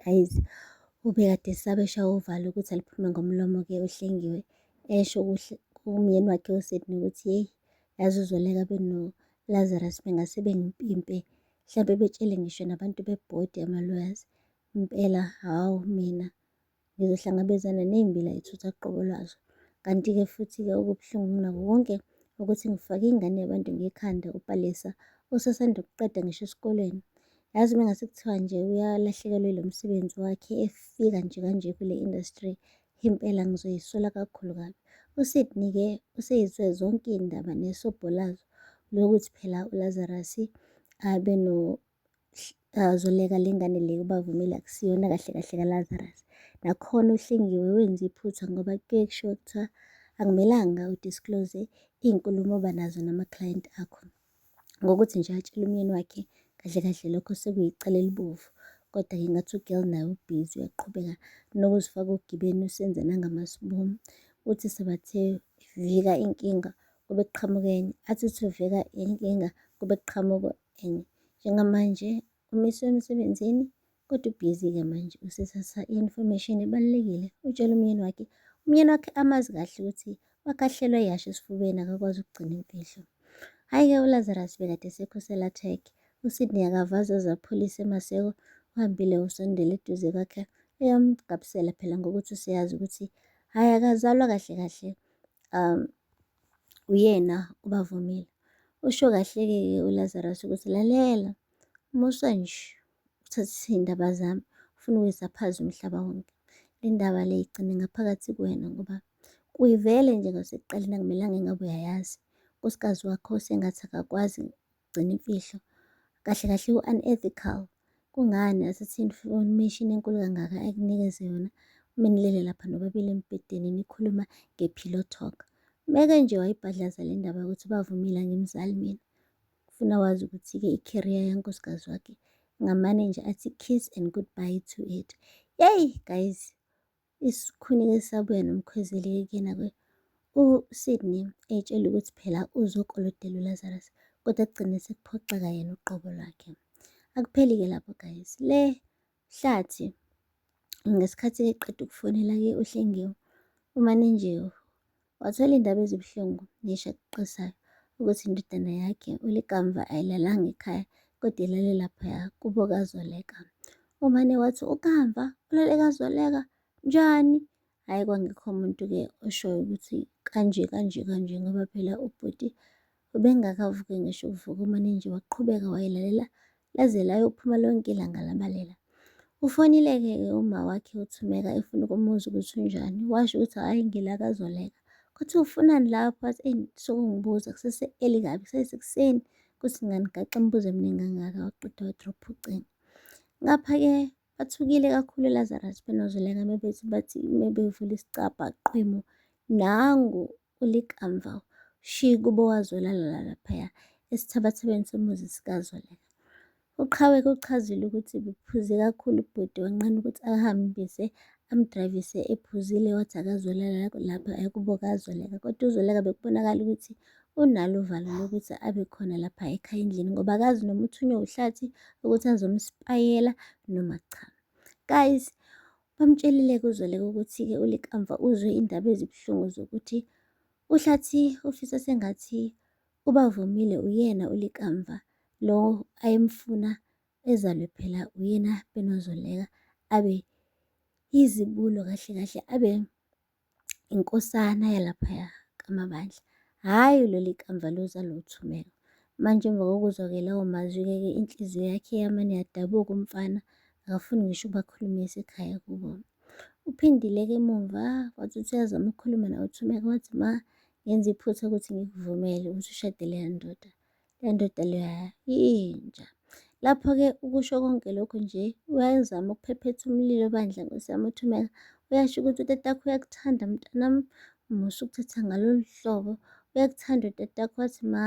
guys ubekade esabe eshawa uvalo ukuthi aliphume ngomlomo-ke uhlengiwe esho kumyeni wakhe usidney ukuthi yeyi yazi uzoleka benolazarus bengase bengimpimpe mhlawumbe betshele ngisho nabantu bebhodi ama-lawyers impela hawu mina ngizohlangabezana ney'mbila ithutha qobo lwazo. Kanti-ke futhi-ke okubuhlungu kunako konke ukuthi ngifake ingane yabantu ngekhanda uPalesa osasanda kuqeda ngisho esikoleni. Yazi uma ngase kuthiwa nje uyalahlekelwa ilo msebenzi wakhe efika nje kanje kule industry impela ngizoyisola kakhulu kabi. USydney-ke useyizwe zonke iy'ndaba nesobho lazo lokuthi phela uLazarus abe Zoleka le ngane le ubavumile akusiyona kahle kahle kaLazarus. Nakhona uHlengiwe wenza iphutha ngoba kuye kushiwo kuthiwa akumelanga udisclose iy'nkulumo oba nazo nama-client akho. Ngokuthi nje atshele umyeni wakhe kahle kahle lokho sekuyicala elibovu. Kodwa-ke ngathi u-girl naye ubhizi uyaqhubeka nokuzifaka ogibeni usenze nangamaspuni. Uthi sebathe vika inkinga kube kuqhamuka enye, athi uthi uvika inkinga kube kuqhamuka. and njengamanje umiswe emsebenzini kodwa ubhizi-ke manje usesasa i-information ebalulekile utshela umyeni wakhe umyeni wakhe amazi kahle ukuthi wakahlelwa yasho esifubeni akakwazi ukugcina imfihlo hhayi-ke ulazarus bekade esekho selathek usydney akavazi azaphulise emaseko uhambile usondela eduze kwakhe eyamgabisela phela ngokuthi useyazi ukuthi hhayi akazalwa kahle kahle um uyena ubavumile. Usho kahleke-ke uLazarus ukuthi lalela musa nje uthathise iy'ndaba zami ufuna ukuyisa phansi umhlaba wonke. Le ndaba le igcine ngaphakathi kuwena ngoba kuyivele nje ngasekuqaleni akumelanga engabe uyayazi. Unkosikazi wakho sengathi akakwazi ukugcina imfihlo. Kahle kahle u-unethical. Kungani asithi information enkulu kangaka ekunikeze yona uma nilele lapha nobabili embhedeni nikhuluma nge-pillow talk. Meke nje wayibhadlaza le ndaba yokuthi bavumile angimzali mina. Ufuna wazi ukuthi-ke i-career yankosikazi wakhe ngamane nje athi kiss and goodbye to it. Yeyi guys, Isikhuni-ke sabuya nomkhwezeli-ke kuyena-ke uSydney etshela ukuthi phela uzokolodela uLazarus kodwa kugcine sekuphoxeka yena uqobo lwakhe. Akupheli-ke lapho guys, le hlathi ngesikhathi-ke qeda ukufonela-ke uHlengiwe uManenjewu Wathola indaba ezibuhlungu neshaqqisayo ukuthi indodana yakhe ulikamva ayilalanga ekhaya kodwa ilale laphaya kubo kazoleka. Umane wathi ukamva ulale kazoleka njani? Hhayi kwangekho muntu-ke oshoyo ukuthi kanje kanje kanje ngoba phela ubhuti Ubengakavuki ngisho ukuvuka uManinji waqhubeka wayilalela laze layophuma lonke ilanga labalela. Ufonile-ke-ke uma wakhe uThumeka efuna ukumuza ukuthi unjani, washo ukuthi hhayi ngila kazoleka. Kuthi ufunani lapho wathi eyi sokungibuza kusese eli kabi kusesekuseni kuthi ngani gaxe imibuzo eminingi kangaka waqeda wadropha ucingo. Ngapha-ke Bathukile kakhulu Lazarus benozoleka mebethi bathi mebevula isicabha qhwemo nangu ulikamva shi kubo wazolalala laphaya esithabathabeni somuzi sikazoleka. Uqhawe kuchazile ukuthi bephuze kakhulu ubhuti wanqena ukuthi ahambise amdrayivise ephuzile wathi akazolala lapha ekuboka azoleka kodwa uzoleka bekubonakala ukuthi unalo uvalo lokuthi abe khona lapha ekhaya endlini ngoba akazi noma uthunywe uhlathi ukuthi azomspayela noma cha guys bamtshelile kuzoleka ukuthi-ke ulikamva uzwe indaba ezibuhlungu zokuthi uhlathi ufisa sengathi ubavumile uyena ulikamva lo ayemfuna ezalwe phela uyena benozoleka abe izibulo kahle kahle abe inkosana yalaphaya kamabandla hhayi leli kamva luza luthumela manje emva kokuzwa-ke lawo mazwi-ke ke inhliziyo yakhe yamane yadabuka umfana akafuni ngisho ubakhulumisa ekhaya kubo uphindile-ke emumva wathi uthi uyazama ukukhuluma nawe uthumeka wathi ma ngenza iphutha ukuthi ngikuvumele ukuthi ushadele yandoda le ndoda leya yinja. Lapho-ke ukusho konke lokhu nje uyazama ukuphephetha umlilo bandla nkosi yami uthumela. Uyasho ukuthi utatakho uyakuthanda mntanami umusa ukuthatha ngalolu hlobo. Uyakuthanda utatakho wathi ma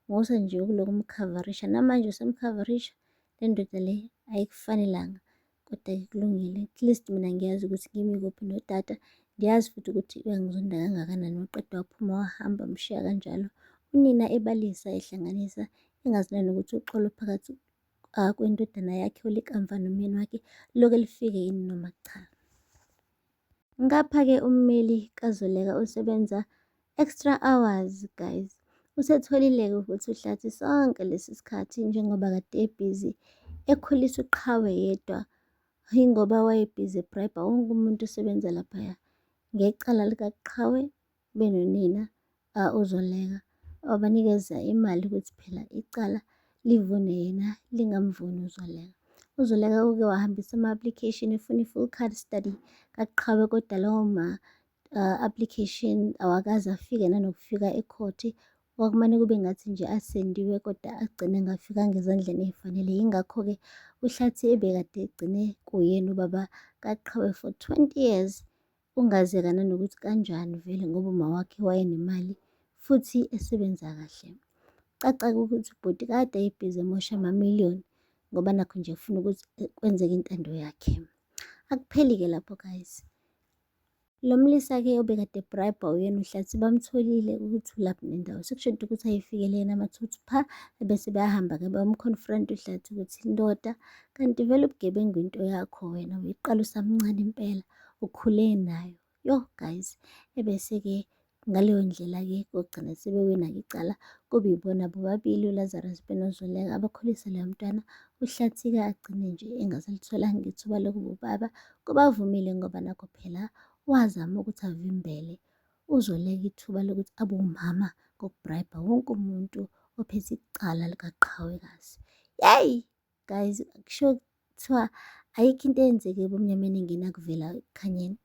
ngosa nje ukulokhu umkhavarisha namanje usemkhavarisha le ndoda le ayikufanelanga. Kodwa-ke kulungile, at least mina ngiyazi ukuthi kimi kuphi nodata. Ngiyazi futhi ukuthi uyangizonda kangakanani waqeda waphuma wahamba mshiya kanjalo. Unina ebalisa ehlanganisa engazi nani ukuthi uxolo phakathi ah, kwendodana yakhe ulikamva nomyeni wakhe loke lifike yini noma cha. Ngapha-ke ummeli kaZoleka usebenza extra hours guys. Usetholile-ke ukuthi uhlathi sonke lesi sikhathi njengoba kade ebhizi ekhulisa uqhawe yedwa yingoba wayebhizi ebrayibha wonke umuntu osebenza laphaya ngecala likaqhawe kube nonina ozoleka wabanikeza imali ukuthi phela icala livune yena lingamvuni uzoleka uzoleka uke wahambisa ama-application efuna i-full card study kaqhawe kodwa lawo ma-application awakaze afike nanokufika ekhothi kwakumane kube ngathi nje asendiwe kodwa agcine ngafikanga ezandleni ey'fanele yingakho-ke uhlathi ebekade egcine kuyena ubaba kaqhawe for 20 years Kungazeka nanokuthi kanjani vele ngoba umawakhe wayenemali futhi esebenza kahle. Caca-ke ukuthi ubhuti kade ayibhizi emosha amamiliyoni ngoba nakho nje ufuna ukuthi eh, kwenzeke intando yakhe. Akupheli-ke lapho guys. Lo mlisa-ke obekade ebrayibha uyena uhlathi bamtholile ukuthi ulaphi nendawo. Sekushoda ukuthi ayifikele yena amathuthu pha ebese bayahamba-ke bamconfront uhlathi ukuthi ndoda kanti vele ubugebengu into yakho wena uyiqala usamncane impela. ukhule nayo yo guys ebese-ke ngaleyo ndlela-ke kogcina sebewina-ke icala kube ibona bobabili ulazarus benozoleka abakhulise leyo mntwana uhlathika agcine nje engasalithwalanga ithuba lokuba ubaba kubavumile ngoba nakho phela wazama ukuthi avimbele uzoleka ithuba lokuthi abe umama ngokubrayibha wonke umuntu ophethe icala likaqhawekazi yeyi guys kusho kuthiwa ayikho into eyenzeke ebumnyameni engena kuvela ekukhanyeni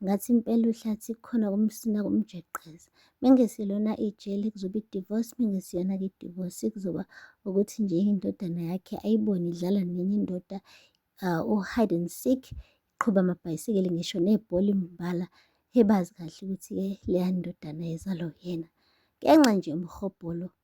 ngathi impela uhlathi khona kumsina kumjeqeza mengeselona ijele kuzoba idivorce mengesiyona-ke idivorce kuzoba ukuthi nje indodana yakhe ayibone idlala nenye indoda uh, u-hide and seek iqhuba amabhayisikele ngisho nebhola imbala hebazi kahle ukuthi-ke leya ndodana yezalo yena ngenxa nje umhobholo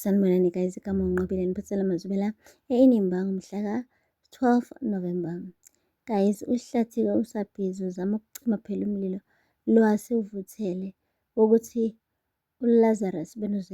sanibonani guys igama unqobile niphathela mazubela einimba ngomhla ka-12 november guys uhlathike usabhizi uzama ukucima phela umlilo lwase uvuthele ukuthi ulazarus benozile